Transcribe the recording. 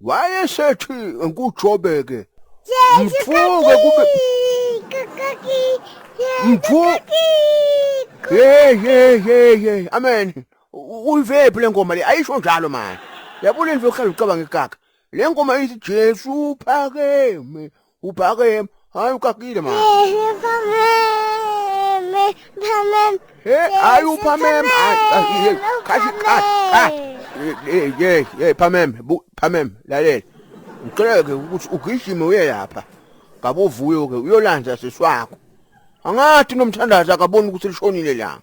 wayesethi ngujobeke mfuke kube mfu hey hey hey hey amen uyivephi lengoma le ayisho njalo manje yabona into ohlala ucabanga ikaka lengoma ithi Jesu phakeme ubhake hayi ukakile manje Ehe, phameme, phameme. he hayi uphameme hayi, hayi, hey, kathi kathi kathi hey hey hey phameme bu- phameme lalela ngicela ke ukuthi ugijime uye lapha ngabovuyo ke uyolanda siswakho angathi nomthandazi akaboni ukuthi lishonile langa